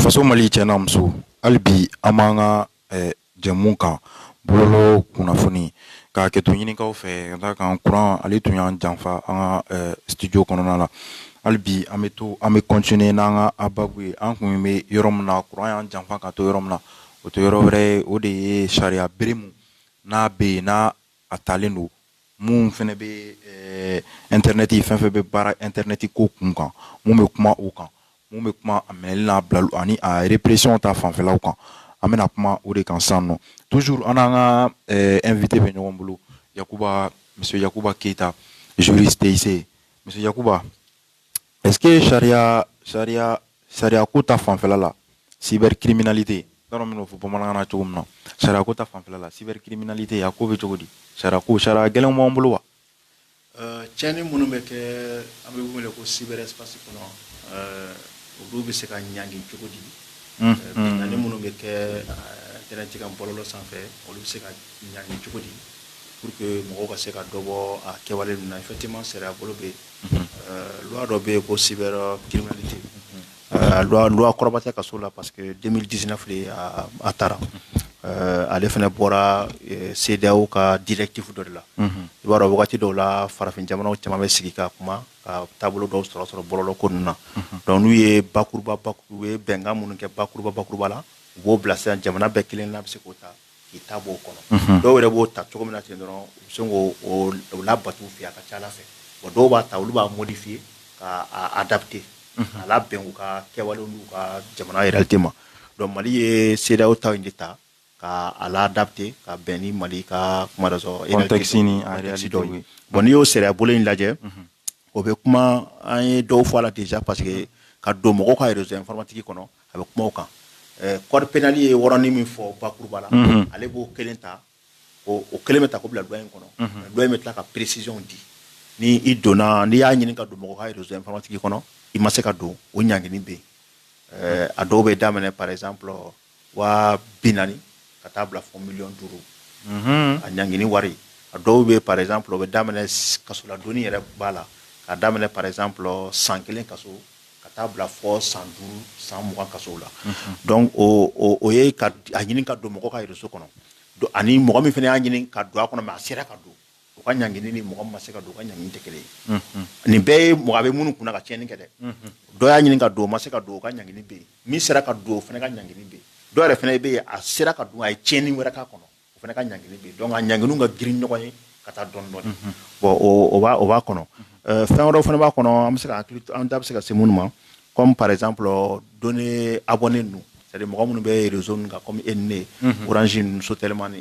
faso mali cɛ n'a muso hali bi an b'an ka eh, jɛmu kan bɔlɔlɔ kunnafoni ka hakɛto ɲini aw fɛ ka d'a kan kuran ale tun y'an janfa an ka eh, studio kɔnɔna la hali bi an bɛ to an bɛ continuer n'an ka ababu ye an kun bɛ yɔrɔ min na kuran y'an janfa ka to yɔrɔ min na o tɛ yɔrɔ wɛrɛ ye o de ye sariya bere mun n'a bɛ yen n'a a taalen don mun fana bɛ eh, internet fɛn fɛn bɛ baara internet ko kun kan mun bɛ kuma o kan mun bɛ kuma a minɛli n'a bilali ani a répression ta fanfɛlaw kan an bɛna kuma o de kan sisan nɔ toujours an n'an ka eh, invité bɛ ɲɔgɔn bolo Yakuba monsieur Yakuba Keyita juriste monsieur Yakuba Est-ce que sariya sariya sariya ko ta fanfɛla la cybercriminalité n t'a dɔn n bɛn'o fɔ bamanankan na cogo min na sariya ko ta fanfɛla la cybercriminalité a ko bɛ cogo di est-ce que sariya gɛlɛnw b'an bolo wa. Euh, tiɲɛni minnu bɛ kɛ an b'o wele ko cyberespace kɔnɔ euh, olu bɛ se ka ɲangi cogo di hmm, euh, hmm. binkanni minnu bɛ kɛ internet kan bɔlɔlɔ sanfɛ olu bɛ se ka ɲangi cogo di pour que mɔgɔw ka se ka dɔ bɔ a kɛwale ninnu na effectivement sariya bolo bɛ yen Loi dɔ bɛ yen ko cybercriminalité loi kɔrɔba tɛ kaso la parce que deux mille dix-neuf de a taara ale fana bɔra CEDEAO ka directive dɔ de la i b'a dɔn waati dɔw la farafin jamanaw caman bɛ sigi ka kuma ka taabolo dɔw sɔrɔ sɔrɔ bɔlɔlɔ ko ninnu na donc n'u ye bakuruba u ye bɛnkan minnu kɛ bakuruba bakuruba la u b'o bila sisan jamana bɛɛ kelen na bɛ se k'o ta k'i ta b'o kɔnɔ dɔw yɛrɛ b'o ta cogo min na ten dɔrɔn u bɛ se k'o labato u fɛ a ka c'a la fɛ bon dɔw b'a ta olu b'a modifier k'a adapter a labɛn u ka kɛwale n'u ka jamana réalité ma donc mali ye CEDEAO ta in de ta k'a a la adapter ka bɛn ni mali ka kuma dɔ e dɔw bon n'i y'o sariya bolo in lajɛ O bɛ kuma an ye dɔw fɔ a la déjà parce que ka don mɔgɔw ka réseau informatique kɔnɔ a bɛ kuma o kan code pénal ye yɔrɔnin min fɔ bakuruba la ale b'o kelen ta o kelen bɛ ta k'o bila loi in kɔnɔ loi in bɛ tila ka précisionw di ni i donna n'i y'a ɲini ka don mɔgɔ ka réseau informatique kɔnɔ i ma se ka don o ɲangini bɛ yen a dɔw bɛ daminɛ par exemple waa bi naani ka taa bila fɔ miliyɔn duuru a ɲangini wari a dɔw bɛ par exemple o bɛ daminɛ kasoladonni yɛrɛ b'a la ka daminɛ par exemple san kelen kaso ka taa bila fɔ san duuru san mugan kasow la donc o ye a ɲini ka don mɔgɔ ka réseau kɔnɔ ani mɔgɔ min fana y'a ɲini ka don a kɔnɔ mais a sera ka don o ka ɲangini ni mɔgɔ min ma se ka don u ka ɲangini tɛ kelen ye nin bɛɛ ye mɔgɔ a bɛ minnu kunna ka tiɲɛni kɛ dɛ dɔ y'a ɲini ka don o ma se ka don o ka ɲangini bɛ yen min sera ka don o fana ka ɲangini bɛ yen dɔ wɛrɛ fana bɛ yen a sera ka don a ye tiɲɛni wɛrɛ k'a kɔnɔ o fana ka ɲangini bɛ yen donc a ɲanginiw ka girin ɲɔgɔn ye ka taa dɔɔni dɔɔni bon o b'a kɔnɔ fɛn wɛrɛw fana b'a kɔnɔ en tout cas an da bɛ se ka se minnu ma Kɔmi paz don ne a bɔ ne don seri mɔgɔ minnu bɛ rez kan kɔmi e ne oranz so telemani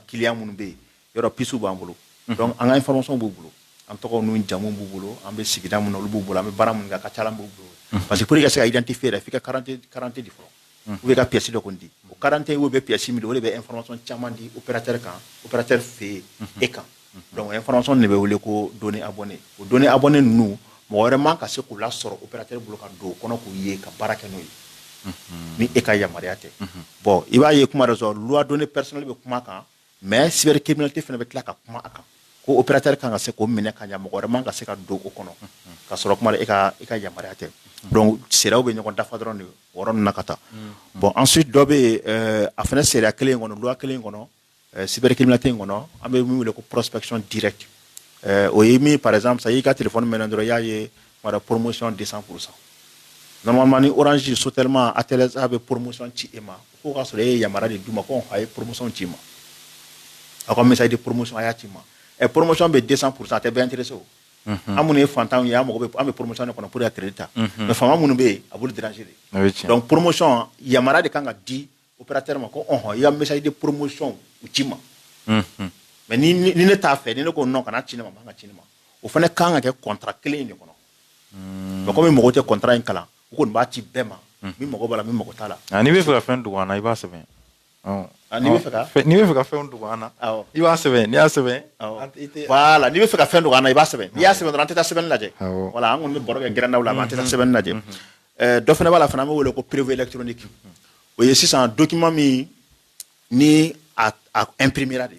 kiya minnu bɛ yen yɔrɔ psiw b'an bolo an ka fɔlɔsɔn b'u bolo an tɔgɔ n jamu b'u bolo an bɛ sigida minnu olu b'u bolo an bɛ bara min kan ka ca b' bolo parce que ko i ka se i tɛ fɛ fo i ka de fɔ u bɛ ka psi dɔ di o garante y'u bɛ psi min o de bɛ nfasɔn caman di u kan utɛ fɛ e kan dɔnkucfasɔn de bɛ wele ko don a bɔn o don a bɔnen ninnu mɔgɔ wɛrɛ ma ka se k'u la sɔrɔ u bɛ bolo ka don o kɔnɔ k'u ye ka baara kɛ n'o ye ni e ka yamaruya tɛ bɔn i b'a ye kuma dɔ sɔrɔ ladon pɛsili bɛ kuma kan mais cybercriminalité fana bɛ tila ka kuma a kan ko opérateur kan ka se k'o minɛ ka ɲɛ mɔgɔ wɛrɛ man ka se ka don o kɔnɔ ka sɔrɔ kuma e ka e ka yamaruya tɛ donc sariyaw bɛ ɲɔgɔn dafa dɔrɔn de o yɔrɔ ninnu na ka taa bon ensuite dɔ bɛ yen a fana sariya kelen in kɔnɔ loi kelen in kɔnɔ eh, cybercriminalité in kɔnɔ an bɛ min wele ko prospection directe o ye min par exemple sa y'i ka téléphone mɛnɛ dɔrɔn i y'a ye promotion deux cent pour cent normalement ni Orange Sotelma Atel a bɛ promotion ci e ma Ko ka sɔrɔ e ye yamaruya de d'u ma ko a ye promotion ci ma aw ka message de promotion a y'a ci ma ɛ promotion bɛ deux cent pour cent a tɛ bɛɛ intéresser o an minnu ye fantan ye an mago bɛ an bɛ promotion kɔnɔ pour ka crédit ta mais faama minnu bɛ yen a b'olu déranger donc promotion yamaruya de kan ka di opérateur ma ko ɔɔn i ka message de promotion u ci ma mais ni ne t'a fɛ ni ne ko non kana ci ne ma man ka ci ne ma o fana kan ka kɛ contrat kelen in de kɔnɔ donc comme mɔgɔw tɛ contrat in kalan u kɔni b'a ci bɛɛ ma min mago b'a la min mago t'a la n'i bɛ fɛ ka fɛn dogo an na i b'a sɛbɛn n'i bɛ fɛ ka fɛn dogo an na i b'a sɛbɛn n'i y'a sɛbɛn voilà n'i bɛ fɛ ka fɛn dogo an na i b'a sɛbɛn n'i y'a sɛbɛn dɔrɔn an tɛ taa sɛbɛnni lajɛ voilà an kɔni bɛ baro kɛ gɛrɛndaw la an tɛ taa sɛbɛnni lajɛ dɔ fana b'a la fana an bɛ wele ko preuve électronique o ye sisan document min ni a imprimera de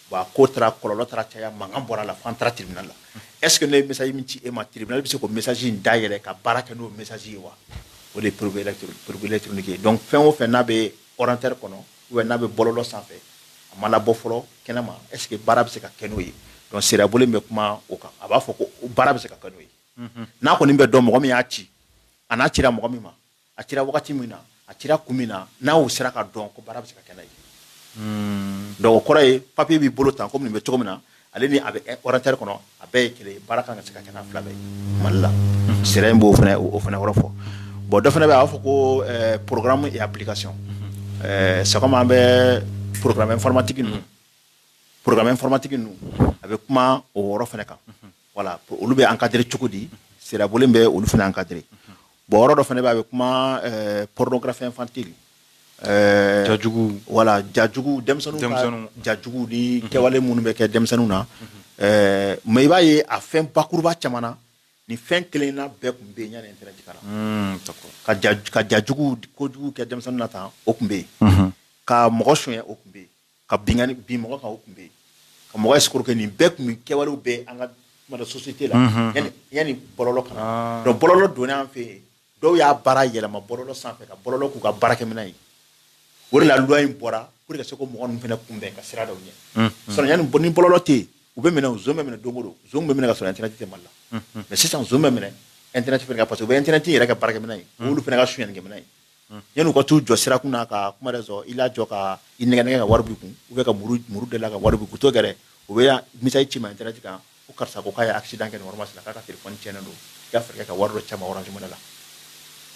Bon a ko taara kɔlɔlɔ taara caya mankan bɔra a la fo an taara tribunal la est ce que ne ye message min ci e ma tribunal bɛ se k'o message in dayɛlɛ ka baara kɛ n'o message ye wa o de ye preuve électronique ye donc fɛn o fɛn n'a bɛ ordinateur kɔnɔ ou bien n'a bɛ bɔlɔlɔ sanfɛ a ma labɔ fɔlɔ kɛnɛma est ce que baara bɛ se ka kɛ n'o ye donc sariyabolo in bɛ kuma o kan a b'a fɔ ko baara bɛ se ka kɛ n'o ye n'a kɔni bɛ dɔn mɔgɔ min y'a ci a n'a cira mɔgɔ min ma A cira wagati min na a cira kun min na n'a y'o sera ka dɔn ko baara bɛ se ka kɛ n'a ye donc o kɔrɔ ye papier b'i bolo tan kɔmi nin bɛ cogo min na ale ni a bɛ ordinateur kɔnɔ a bɛɛ ye kelen ye baara kan ka se ka kɛ n'a fila bɛɛ ye mali la sariya in b'o fana o fana yɔrɔ fɔ bon dɔ fana bɛ yen a b'a fɔ ko programme et application c'est comme an bɛ programme informatique ninnu programme informatique ninnu a bɛ kuma o yɔrɔ fana kan voilà olu bɛ encadrer cogo di sariya bolo bɛ olu fana encadrer bon yɔrɔ dɔ fana b'a bɛ kuma pornographie infantile jajugu voilà jajugu denmisɛnnin jajugu ni kɛwale minnu bɛ kɛ denmisɛnninw na mais i b'a ye a fɛn bakuruba caman na ni fɛn kelen na bɛɛ tun bɛ yen yanni internet ka na ka jajugu kojugu kɛ denmisɛnnin na tan o tun bɛ yen ka mɔgɔ sonya o tun bɛ yen ka bin mɔgɔ kan o tun bɛ yen ka mɔgɔ escroquer nin bɛɛ tun bɛ kɛwale bɛ an ka mara société la yanni bɔlɔlɔ ka na donc bɔlɔlɔ donna an fɛ yen dɔw y'a baara yɛlɛma bɔlɔlɔ sanfɛ ka bɔlɔlɔ k'u ka baarakɛminɛn ye o de la loi in bɔra pour que ka se k'o mɔgɔ ninnu fana kunbɛn ka sira dɔw ɲɛ sinon yanni ni bɔlɔlɔ tɛ yen u bɛ minɛ zon bɛ minɛ don o don zon bɛ minɛ ka sɔrɔ internet tɛ mali la mais sisan zon bɛ minɛ internet fana kan parce que u bɛ internet yɛrɛ kɛ baarakɛminɛn ye olu fana ka sonyakɛminɛn ye yan u ka taau jɔ sira kun'a ka kuma sɔrɔ i la jɔ ka i nɛgɛ ka wari kun u bɛ ka muru muru de la ka wari kuto gɛrɛ u bɛ misa ci ma jala kan ko karisa ko k'a ye asi dan kɛ ma sera k'a ka tile fɔoni cɛnɲɛna don y'a fɛ ka wari dɔ cɛ wɛrɛ jumɛn la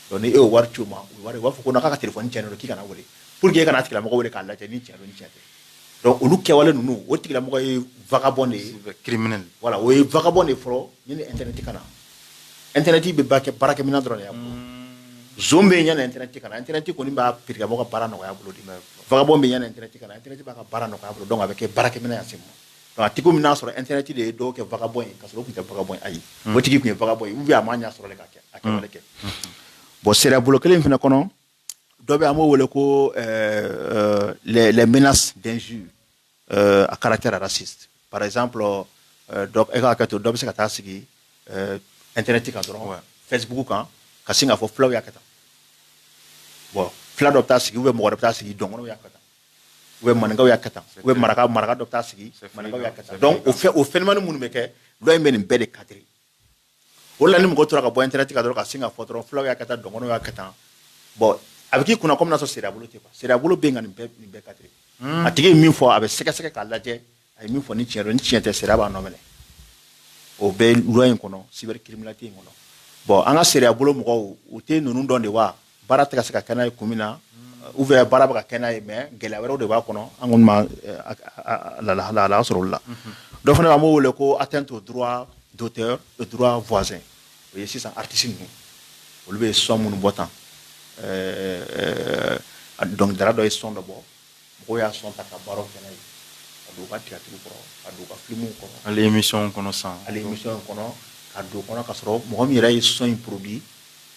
dɔn e y'o wari ci ma wari b'a fɔ ko ka tile fɔoni cɛn don k'i kana wele pur que e kana tigilamɔgɔ wele k'a lajɛ ni cɛ ni cɛ dɔnku olu kɛwale ninnu o tigilamɔgɔ ye vbɔ de ye kiri minɛ wala o ye vbɔ de fɔlɔ ni ni ntɛnɛn tɛ ka na ntɛnɛnɛnti bɛ ba kɛ baarakɛmina dɔrɔn yan bɛ ɲɛna ntɛnɛnɛnti ka ntɛnɛnɛnti kɔni b'a perekaramɔgɔ ka baara nɔgɔya bolo vbɔ bɛ ɲɛna ntɛnɛnti ka ntɛnɛnti b'a ka baara nɔgɔya bolo dɔn a bɛ kɛ baarakɛminɛ se ma ti min y'a sɔrɔ ntɛnɛnɛnti de ye dɔw kɛ vbɔ in ka tun tɛ vbɔ ayi o tigi tun ye vbɔ u a ma ɲɛ sɔrɔ ka kɛ a kɛ kɛ bon sira bolo kelen fana kɔnɔ dɔ bɛ an b'o wele ko bɛna dɛsɛz euh, à caractère raciste. Par exemple, euh, euh, donc, e ka hakɛto dɔ bɛ se ka taa sigi euh, internet kan dɔrɔn facebook kan ka sin k'a fɔ fulaw y'a kɛ tan bon fula dɔ bɛ taa sigi ou bien mɔgɔ dɔ bɛ taa sigi dɔgɔnɔw y'a kɛ tan ou bien maninkaw y'a kɛ tan ou bien maraka maraka dɔ bɛ taa sigi maninkaw y'a kɛ tan donc o fɛ o phénomène minnu bɛ kɛ loi in bɛ nin bɛɛ de cadrer O la ni mɔgɔ tora ka bɔ internet kan dɔrɔn ka sin ka fɔ dɔrɔn fulaw y'a kɛ tan dɔgɔnɔw y'a kɛ tan bon a bɛ k'i kunna comme n'a sɔrɔ sariya bolo tɛ quoi sariya bolo bɛ yen ka nin bɛɛ nin bɛɛ cadrer a tigi ye min fɔ a bɛ sɛgɛsɛgɛ k'a lajɛ a ye min fɔ ni tiɲɛ don ni tiɲɛ tɛ sariya b'a nɔ minɛ o bɛ loi in kɔnɔ cybercriminalité in kɔnɔ bon an ka sariya bolo mɔgɔw u tɛ ninnu dɔn de wa Baara tɛ ka se ka kɛ n'a ye kun min na ou bien baara bɛ ka kɛ n'a ye mais gɛlɛya wɛrɛw de b'a kɔnɔ an kɔni ma lahala sɔrɔ olu la dɔ fana bɛ yen an b'o wele ko atteinte au droit d'auteur et droit voisin o ye sisan artiste ninnu olu bɛ son minnu bɔ tan dɔnkilidala dɔ ye son dɔ bɔ mɔgɔw y'a sɔn ta ka baaraw kɛ n'a ye ka don u ka tiyatiriw kɔnɔ ka don u ka filimuw kɔnɔ hali emisiyɔnw kɔnɔ san hali emisiyɔnw kɔnɔ ka don kɔnɔ ka sɔrɔ mɔgɔ min yɛrɛ ye sɔn in porodi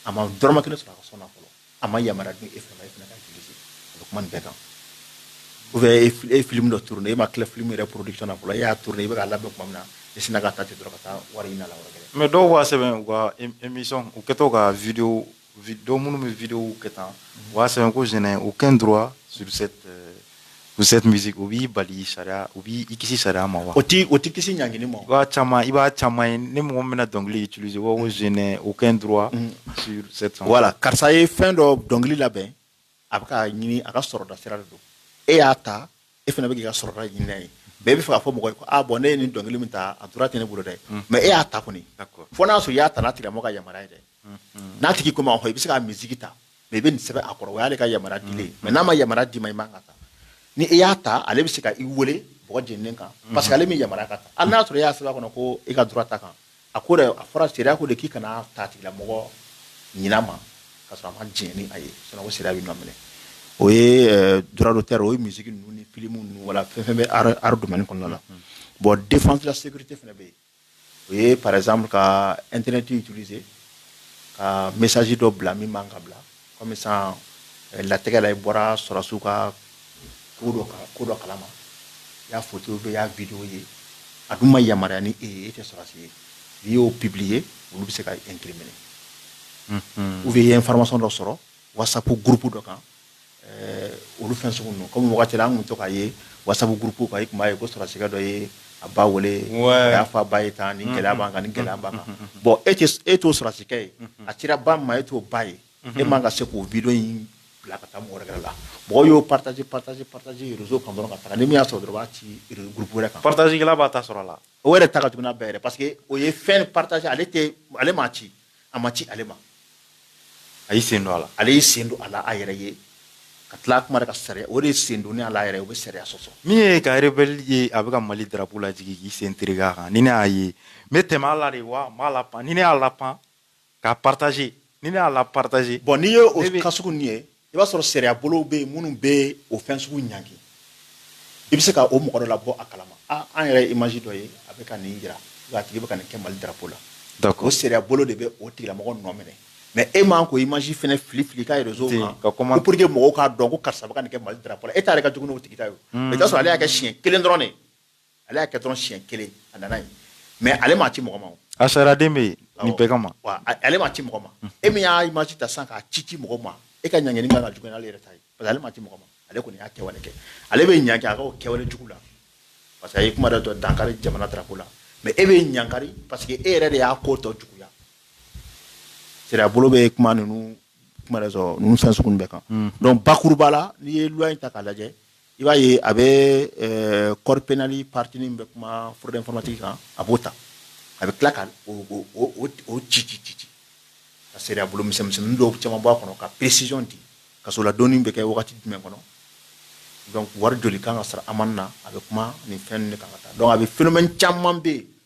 a ma dɔrɔmɛ kelen sɔrɔ a ka sɔn na fɔlɔ a ma yamaruya di e fana e fana ka itilize a bɛ kuma nin bɛɛ kan ubiyɛn e, e ye filimu dɔ turune e ma tila filimu yɛrɛ porodikisɔn na fɔlɔ e y'a turune i bɛ k'a labɛn kuma min na i sinna ka ta ten dɔrɔn ka taa wari ɲini a la yɔrɔ wɛrɛ mɛ dɔw b'a sɛbɛn u ka emisiyɔn u kɛtɔ ka videwo Don minnu bɛ vi kɛ tan o y'a sɛbɛn ko z o kɛ in dɔrɔn misi o b'i bali sariya o b' i kisi sariya ma wa o tɛ o tɛ kisi ɲg ma i b'a caman i b'a caman ye ni mɔgɔ bɛna dɔnkili tu z o kɛ in dɔrɔn wala karisa ye fɛn dɔ dɔnkili labɛn a bɛ k'a ɲini a ka sɔrɔda sira de don e y'a ta e fana bɛ k'i ka sɔrɔda ɲini n'a ye mais e b'a fɛ k'a fɔ mɔgɔ ye ko ah bon ne ye nin dɔnkili min ta a droit tɛ ne bolo dɛ mais e y'a ta kɔni fo n'a y'a sɔrɔ i y'a ta n'a tigilamɔgɔ ka yamaruya ye dɛ n'a tigi ko i ma hɔn i bɛ se k'a musique ta mais i bɛ nin sɛbɛn a kɔrɔ o y'ale ka yamaruya dilen ye mais n'a ma yamaruya d'i ma i man ka ta ni e y'a ta ale bɛ se ka i wele bɔgɔ jeninen kan parce que ale m'i yamaruya k'a ta hali n'a y'a sɔrɔ e y'a sɛbɛn a kɔnɔ ko i ka droit t'a kan A ko de a fɔra sariya ko de k'i kan'a ta tigilamɔgɔ ɲina ma ka sɔrɔ a ma diɲɛ ni a ye sinon ko sariya b'i nɔ minɛ o ye droit d'auteur o ye misiki ninnu ni filimu ninnu wala fɛn fɛn bɛ art domaine kɔnɔna la bon défense de la sécurité fana bɛ yen o ye par exemple ka internet utiliser ka message dɔ bila min man ka bila Comme ça latigɛ la i bɔra sɔrɔsiw ka ko dɔ kan ko dɔ kalama i y'a foto bɛ i y'a video ye a dun ma yamaruya ni e ye e tɛ sɔrɔsi ye n'i y'o publier olu bɛ se k'i incriminer ou bien i ye information dɔ sɔrɔ whatsapp groupe dɔ kan eh, olu fɛn sugu ninnu kɔmi wagati la an tun bɛ to k'a ye whatsapp groupe kan i tun b'a ye ko sɔrɔsikɛ dɔ ye a ba wele a y'a fɔ a ba ye tan nin gɛlɛya b'an kan nin gɛlɛya b'an kan bon e e t'o sɔrɔsikɛ ye a cira ba min ma e t'o ba ye e man ka se k'o video in bila ka taa mɔgɔ wɛrɛ la mɔgɔw y'o partager partager partager réseau kan dɔrɔn ka taa ni min y'a sɔrɔ dɔrɔn b'a ci groupe wɛrɛ kan partager kɛla b'a ta sɔrɔ a la o yɛrɛ ta ka jugu n'a bɛɛ yɛrɛ parce que o ye fɛn partager ale ale ma ci a ma ci ale ma a y'i sen don a la ale y'i sen don a la a yɛrɛ ye ka tila kuma de ka sariya o de ye sen donni a la yɛrɛ o bɛ sariya sɔsɔ min ye ka rebelle ye a bɛ ka mali drapeau lajigin k'i sen tereke a kan ni ne y'a ye n bɛ tɛmɛ a la de wa n b'a lapan ni ne y'a lapan k'a partager ni ne y'a la partager bon n'i ye o cas sugu nin ye i b'a sɔrɔ sariya bolow bɛ yen minnu bɛ o fɛn sugu ɲangi i bɛ se ka o mɔgɔ dɔ labɔ a kalama an yɛrɛ image dɔ ye a bɛ ka nin jira a tigi bɛ ka nin kɛ mali darapo la o sariya bolo de bɛ o tigilamɔgɔ nɔ minɛ mɛ e man k'o image fɛnɛ fili fili ka réseau kan pour que mɔgɔw k'a dɔn ko karisa bɛ ka nin kɛ mali darapo la e ta yɛrɛ ka jugu n'o tigi ta ye i t'a sɔrɔ ale y'a kɛ siɲɛ kelen dɔrɔn de Ale y'a kɛ dɔrɔn siɲɛ kelen a nana ye mais ale m'a ci mɔgɔ ma a sariyaden bɛ yen nin bɛɛ kama mais ale m'a ci mɔgɔ ma e min y'a image ta sisan k'a ci ci mɔgɔ ma e ka ɲangini ka jugu n'ale yɛrɛ ta ye parce que ale m'a ci mɔgɔ ma ale kɔni y'a kɛwale kɛ ale bɛ ɲangi a kɛwale jugu la parce que a ye kuma dɔ dankari jamana drapeau la mais e bɛ ɲagakari parce que e yɛrɛ de y'a ko tɔ juguya sariya bolo bɛ kuma ninnu fɛn sugu bɛɛ kan donc bakuruba la n'i ye loi in ta k'a lajɛ i b'a ye a bɛ eh, code pénal partie min bɛ kuma fraude informatique kan a b'o ta a bɛ tila ka o ci ci ci ci ka sariya bolo misɛnmisɛnnin dɔw caman bɔ a kɔnɔ ka précision di kaso la donni bɛ kɛ wagati jumɛn kɔnɔ donc wari joli kan ka sara amende na a bɛ kuma nin fɛn ninnu de kan ka taa donc a bɛ phénomène caman bɛ yen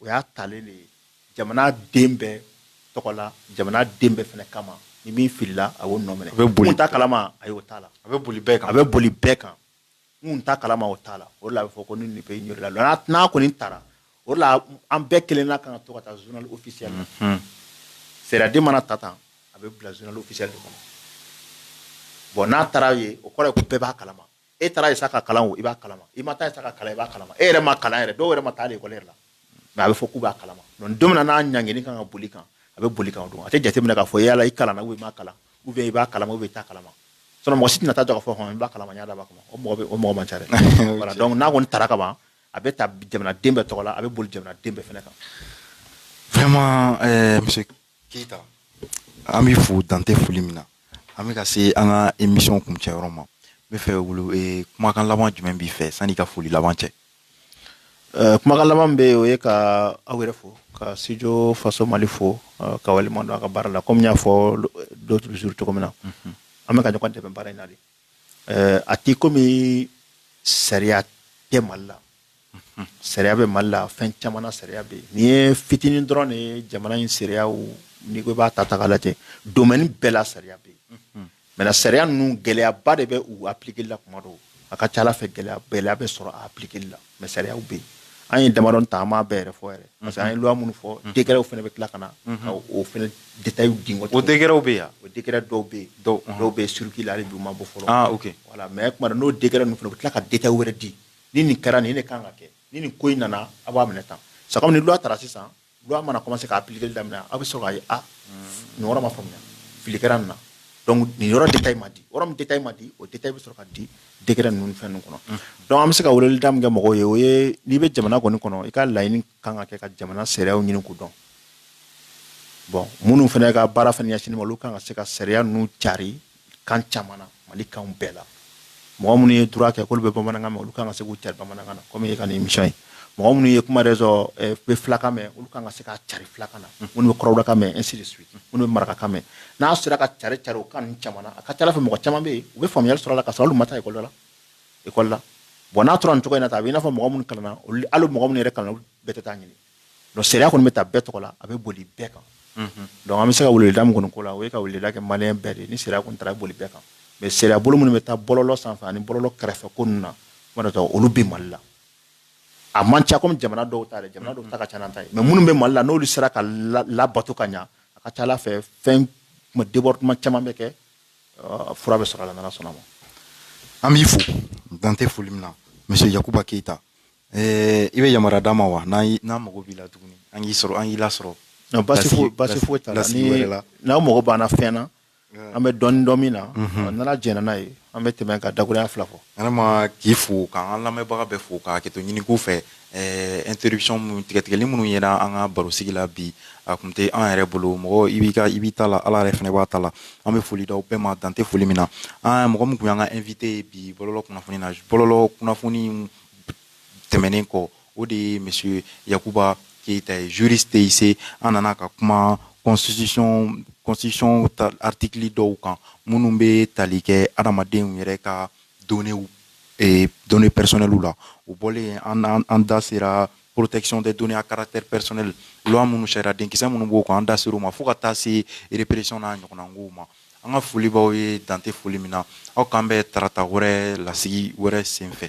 o y'a talen de ye jamana den bɛɛ tɔgɔ la jamana den bɛɛ fana kama ni min filila a y'o nɔ minɛ a bɛ boli n t'a kalama a y'o t'a la a bɛ boli bɛɛ kan a bɛ boli bɛɛ kan n t'a kalama o t'a la o de la a bɛ fɔ ko nul ne peut ignorer la loi n'a kɔni tara o de la an bɛɛ kelenna kan ka to ka taa journal officiel la sariyaden mana ta tan a bɛ bila journal officiel de kɔnɔ bon n'a taara yen o kɔrɔ ye ko bɛɛ b'a kalama e taara sa k'a kalan o i b'a kalama i ma taa sa k'a kalan i b'a kalama e yɛrɛ ma kalan yɛrɛ dɔw yɛrɛ ma taa lɛkɔli la nka a bɛ fɔ k'u b'a kalama donc n'a ɲangini kan ka boli i kan a bɛ boli i kan o don a tɛ jateminɛ k'a fɔ yala i kalanna ou i ma kalan ou bien i b'a kalama ou bien i t'a kalama mɔgɔ si tɛna taa jɔ k'a fɔ i b'a kalama n y'a dab'a kama o mɔgɔ man ca donc n'a kɔni tara ka ban a bɛ ta jamana den bɛɛ tɔgɔ la a bɛ boli jamana den bɛɛ fana kan vraiment monsieur Keyita an b'i fo dan tɛ foli min na an bɛ ka se an ka émission kuncɛyɔrɔ ma n b'a fɛ kumakan laban jumɛn b'i fɛ sanni ka foli laban cɛ kumakan laban bɛ o ye ka aw yɛrɛ fo ka studio faso mali fo ka waleɲuman dɔn a ka baara la kɔmi n y'a fɔ l'autre jour cogo min na an bɛ ka ɲɔgɔn dɛmɛ baara in na de a t'i komi sariya tɛ mali la Sariya bɛ mali la fɛn caman na sariya bɛ yen nin ye fitinin dɔrɔn de ye jamana in sariyaw n'i ko i b'a ta k'a lajɛ domaine bɛɛ la sariya bɛ yen mais sariya ninnu gɛlɛyaba de bɛ u appliquer la kuma dɔw a ka ca fɛ gɛlɛya bɛ sɔrɔ a appliquer la mais sariya bɛ yen an ye damadɔ ta an m'a bɛɛ yɛrɛ fɔ parce que an ye loi minnu fɔ décretw fana bɛ tila ka na ka o fana détail di o décretw bɛ yan o décret dɔw bɛ yen dɔw bɛ circuit la u ma bɔ fɔlɔ voilà mais tuma dɔ n'o décret ninnu fana u bɛ tila ka détail wɛrɛ di ni nin kɛra nin ne kan ka kɛ ni nin ko in nana aw b'a minɛ tan sa ni loi tara sisan loi mana commencer ka appliquer daminɛ aw bɛ sɔrɔ k'a ye nin ma faamuya fili kɛra nin na nin yɔrɔ détail ma di yɔrɔ min détail ma di o détail bɛ sɔrɔ ka di décret ninnu fɛn ninnu kɔnɔ donc an bɛ se ka wele da min kɛ mɔgɔw ye o ye n'i bɛ jamana kɔni kɔnɔ i ka laɲini kan ka kɛ ka jamana sariyaw ɲini k'u dɔn bon minnu fana ka baara fana ɲɛsinnen a ma olu kan ka se ka sariya ninnu cari kan caman na mali kan bɛɛ la mɔgɔ minnu ye droit kɛ k'olu bɛ bamanankan mɛn olu kan ka se k'u cari bamanankan na kɔmi i ka nin émission ye mɔgɔ minnu ye kuma sɔrɔ eh, bɛ filakan mɛn olu kan ka se ka cari filakan na minnu bɛ kɔrɔbɔrɔkan mɛn ainsi de suite minnu bɛ marakakan mɛn n'a sera ka cari cari o kan ninnu caman na a ka ca ala fɛ mɔgɔ caman bɛ yen u bɛ faamuyali sɔrɔ a la ka sɔrɔ olu ma taa ekɔli la ekɔli la bɔn n'a tora nin cogo in na tan a bɛ i n'a fɔ mɔgɔ minnu kalanna hali mɔgɔ minnu yɛrɛ kalanna olu bɛɛ tɛ taa ɲini dɔnku sariya kɔni bɛ ta bɛɛ tɔgɔ la a bɛ boli bɛɛ kan dɔnku an bɛ se ka weleweleda min kɔni ko la o ye ka weleweleda kɛ maliyɛn bɛɛ de ye ni sariya kɔni taara boli bɛɛ kan mɛ sariya bolo minnu bɛ taa bɔlɔlɔ sanfɛ ani bɔlɔlɔ kɛrɛfɛ ko ninnu na olu bɛ mali la a man ca kɔmi jamana dɔw ta jamana dɔw ta ka ca n'an ta ye mɛ minnu bɛ mali la n'olu sera ka labato ka ɲɛ a ka ca ala fɛ fɛn débordement caman bɛ kɛ fura bɛ sɔrɔ a la n'ala sɔnna a ma an b'i fo dan tɛ foli min na monsieur Yakuba Keyita Ɛɛ i bɛ yamaruya d'an ma wa n' n'an mago b'i la tuguni an k'i sɔrɔ an k'i lasɔrɔ basi basi foyi t'a la n'aw mago b'an na fɛn na an bɛ dɔɔnin dɔn min na n'ala jɛnna n'a ye an bɛ tɛmɛ ka dakuruya fila fɔ vraiment k'i fo k'an lamɛnbaga bɛɛ fo ka hakɛto ɲini k'u fɛ interruption tigɛtigɛli minnu yera an ka barosigi la bi a kun tɛ an yɛrɛ bolo mɔgɔ i bɛ i b'i ta la ala yɛrɛ fɛnɛ b'a ta la an bɛ foli d'aw bɛɛ ma dan tɛ foli min na an mɔgɔ min kun y'an ka invité bi bɔlɔlɔ kunnafoni na bɔlɔlɔ kunnafoni tɛmɛnen kɔ o de ye monsieur Yakuba Keyita ye juriste TIC an nana ka kuma constitution constitution ta article dɔw kan minnu bɛ tali kɛ adamadenw yɛrɛ ka données eh, données personnelles la o bɔlen an an, an da sera protection des données à caractère personnel loi minnu sariya denkisɛ minnu b'o kan an da ser'o ma fo ka taa se répression n'a ɲɔgɔnna kow ma An ka foli b'aw ye dan tɛ foli min na aw k'an bɛn tarata wɛrɛ lasigi wɛrɛ senfɛ